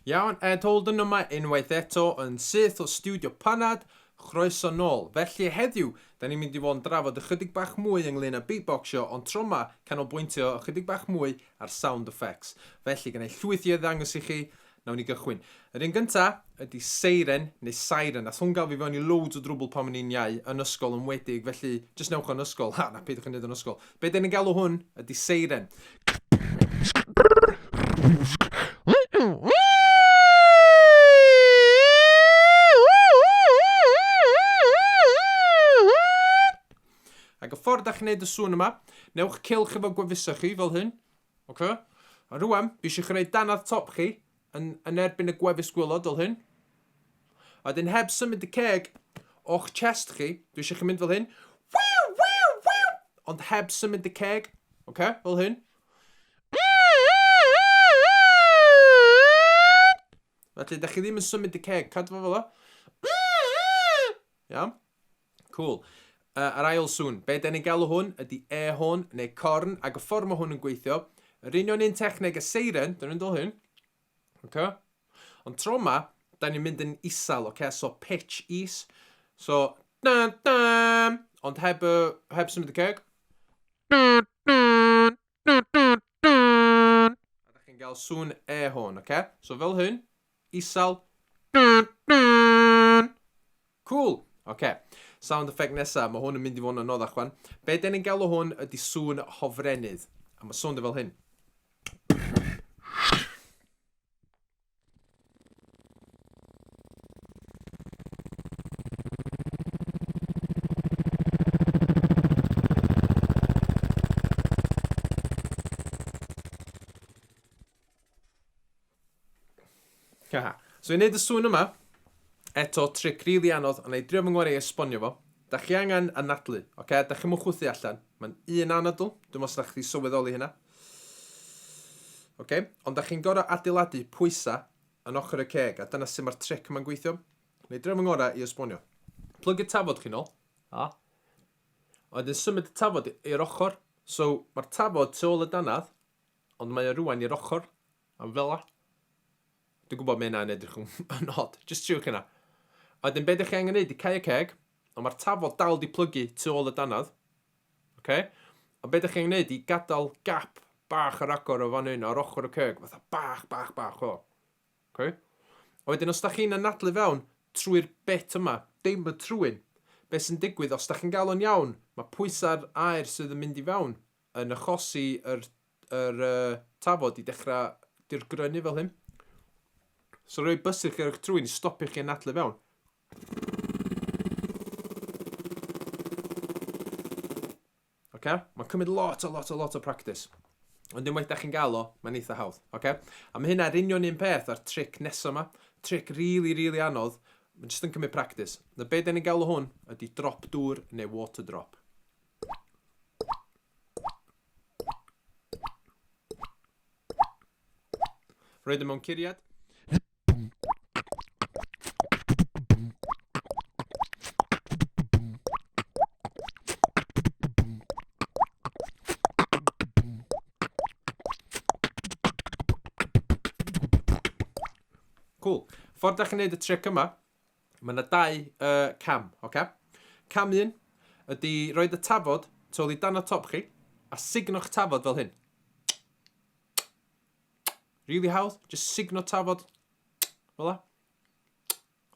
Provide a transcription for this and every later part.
Iawn, Ed Holden yma unwaith eto yn syth o Stiwdio Panad, chroeso nôl. Felly, heddiw, da ni'n mynd i fod yn drafod ychydig bach mwy ynglŷn â beatboxio, ond tro ma, canolbwyntio ychydig bach mwy ar sound effects. Felly, gynna i llwyth i ddangos i chi, Nawn ni gychwyn. Yr un gynta ydi seiren neu siren. Nath hwn ga'l fi fewn i loads o drwbwl pan o'n i'n iau, yn ysgol yn wedig, felly jyst newch o yn ysgol, ha, na peidiwch â neud o'n ysgol. Be' 'den ni'n galw hwn ydi seiren. Ag y ffordd 'dach chi'n neud y sŵn yma, newch cylch efo gwefuso chi fel hyn. Ok? A rwan, fi eisiau chi wneud danadd top chi yn, yn erbyn y gwefus gwylod fel hyn. A dyn heb symud y ceg o'ch chest chi, dwi eisiau chi mynd fel hyn. Wiw, wiw, wiw! Ond heb symud y ceg, ok? Fel hyn. Felly, da chi ddim yn symud y ceg, cadw fo fel o. Iawn? Cŵl. Yy, yr ail sŵn. Be' 'den ni'n galw hwn ydy e-horn neu corn, ac y ffordd mae hwn yn gweithio, yr union un techneg a seiren, dyn ni'n dod hyn, oce? Ond tro 'ma, da ni'n mynd yn isel, oce? So pitch is, so dan dan, ond heb y, heb symud y ceg. chi'n gael sŵn e hwn, oce? So fel hyn, isal. Cool! Oce, sound effect nesa, mae hwn yn mynd i fod yn anoddach chwan. Be den ni'n galw hwn ydy sŵn hofrenydd. A mae sŵn dy fel hyn. Haha. So i wneud y sŵn yma, eto tric rili really anodd, ond ei drio fy ngwarae i esbonio fo. Da chi angen anadlu, oce? Okay? Da chi'n mwchwthu allan. Mae'n un anadl, dwi'n meddwl sydd chdi sylweddoli hynna. Oce, okay. ond da chi'n gorau adeiladu pwysa yn ochr y ceg, a dyna sy'n mae'r tric yma'n gweithio. Neu dref yn gorau i esbonio. Plug y tafod chi'n ôl, a oedd yn symud y tafod i'r ochr, so mae'r tafod tu ôl y danad, ond mae o rwan i'r ochr, am fela. Dwi'n gwybod mae yna'n edrych yn od, just triwch yna. A wedyn beth ydych chi angen neud i cau y ceg, ond mae'r tafod dal di plygu tu ôl y danad, Ok? Ond be dych chi'n gwneud i gadael gap bach ar agor o fan hyn ar ochr y ceg, fatha bach, bach, bach o. Ok? A wedyn os da chi'n anadlu fewn trwy'r bit yma, dim y trwyn, be sy'n digwydd, os da chi'n gael o'n iawn, mae pwysau'r aer sydd yn mynd i fewn yn achosi yr, yr uh, tafod i dechrau dirgrynnu fel hyn. So rhoi bysych ar eich trwyn i stopio chi anadlu fewn. Oce? Mae'n cymryd lot a lot a lot o practis. Ond unwaith da chi'n gael o, mae'n eitha hawdd. Oce? A mae hynna'r union un peth a'r tric nesaf yma. Tric really, really anodd. Mae'n jyst yn cymryd practis. Na be da ni'n gael o hwn ydy drop dŵr neu water drop. Roedd yn mewn curiad. Cŵl. Ffordd da chi'n neud y tric yma, mae yna dau uh, cam, oce? Cam un ydy rhoi y tafod tu ôl i dan y top chi, a signo'ch tafod fel hyn. Really hawdd, just signo tafod, fel la.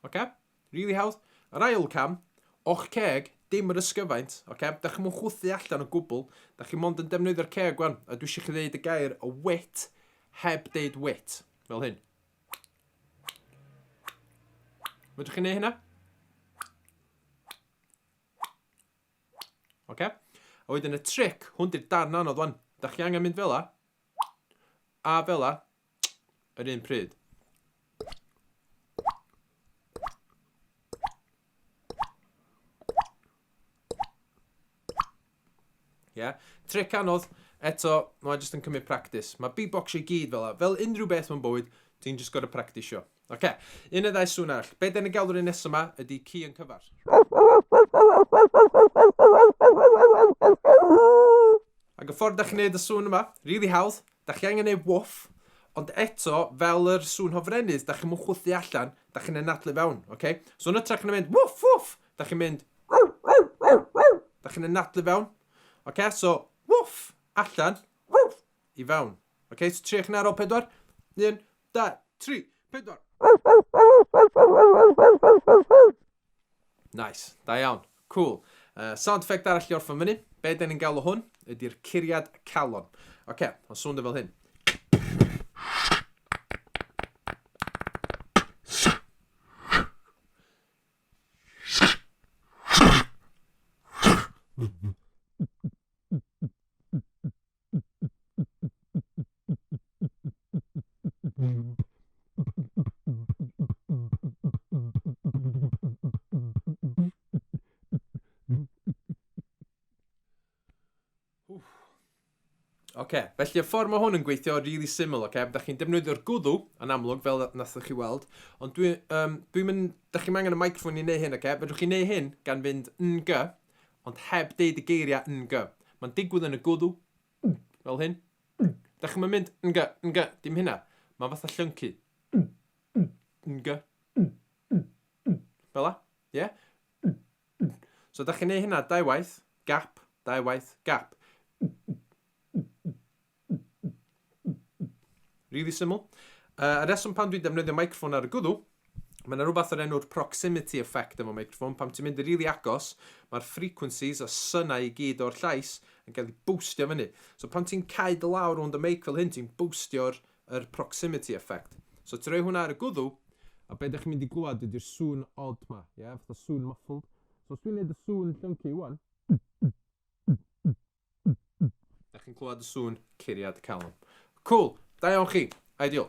Oce? Really hawdd. Yr ail cam, o'ch ceg, dim yr ysgyfaint, oce? Da chi'n mwyn chwthu allan o gwbl, da chi mond yn defnyddio'r ceg gwan, a dwi eisiau chi ddeud y gair o wit heb deud wit, fel hyn. Fydwch chi'n neud hynna? Oce? A wedyn y trick, hwn di'r darn anodd wan. Da chi angen mynd fel la, A fela, yr un pryd. Ie? Tric anodd, eto, mae'n jyst yn cymryd practis. Mae beatboxio i gyd fel yna. Fel unrhyw beth mewn bywyd, ti'n jyst gorau practisio. Oce, un neu ddau sŵn arall. Be' 'dan ni'n galw'r un nesa 'ma ydi ci yn cyfar. Ac y ffordd 'dach chi'n neud y sŵn yma, rili hawdd, 'dach chi angen neud wwff, ond eto, fel yr sŵn hofrennydd, 'dach chi'm yn chwythu allan, 'dach chi'n anadlu fewn, oce? So yn ytrach na mynd wwff wwff, 'dach chi'n mynd 'dach chi'n anadlu fewn. Oce, so wwff, allan, wwff, i fewn. Oce, so triwch 'na ar ôl pedwar. Un, dau, tri, pedwar. Nice, da iawn, cool. Uh, sound effect arall i orffen fyny. Be da ni'n galw hwn ydy'r curiad calon. Oce, okay, o'n swnda e fel hyn. Oce, okay. felly y ffordd mae hwn yn gweithio yn really syml, oce? Okay? Da chi'n defnyddio'r gwddw yn amlwg, fel nath chi weld, ond dwi'n um, dwi mynd, da chi'n angen y microphone i wneud hyn, oce? Okay? Fedrwch chi'n neud hyn gan fynd ng, Ond heb deud y geiriau ng. Mae'n digwydd yn y gwddw, ng, fel hyn. Ng. Dach chi'm yn mynd ng, ng, dim hynna. Mae'n fatha llyncu. Ng, ng, ng, ng, ng, ng. Fel 'na, ie? Yeah? Ng, ng. So dach chi'n neud hynna dau waith, gap, dau waith, gap. Ng, ng, ng, ng. Rili syml. Uh, y reswm pan dwi'n defnyddio microffon ar y gwddw, mae yna rhywbeth o'r enw'r proximity effect efo microffon. Pam ti'n mynd i rili agos, mae'r frequencies a synau i gyd o'r llais yn cael ei boostio fyny. So pan ti'n cael dy lawr rownd y meic fel hyn, ti'n boostio'r er proximity effect. So ti'n rhoi hwnna ar y gwddw, a beth ydych chi'n mynd i glwad ydy'r sŵn odd ma, ie, yeah? fatha sŵn muffled. So os dwi'n neud y sŵn llyncu iwan, Da chi'n clywed y sŵn curiad calon. Cwl, da iawn chi. Ideal.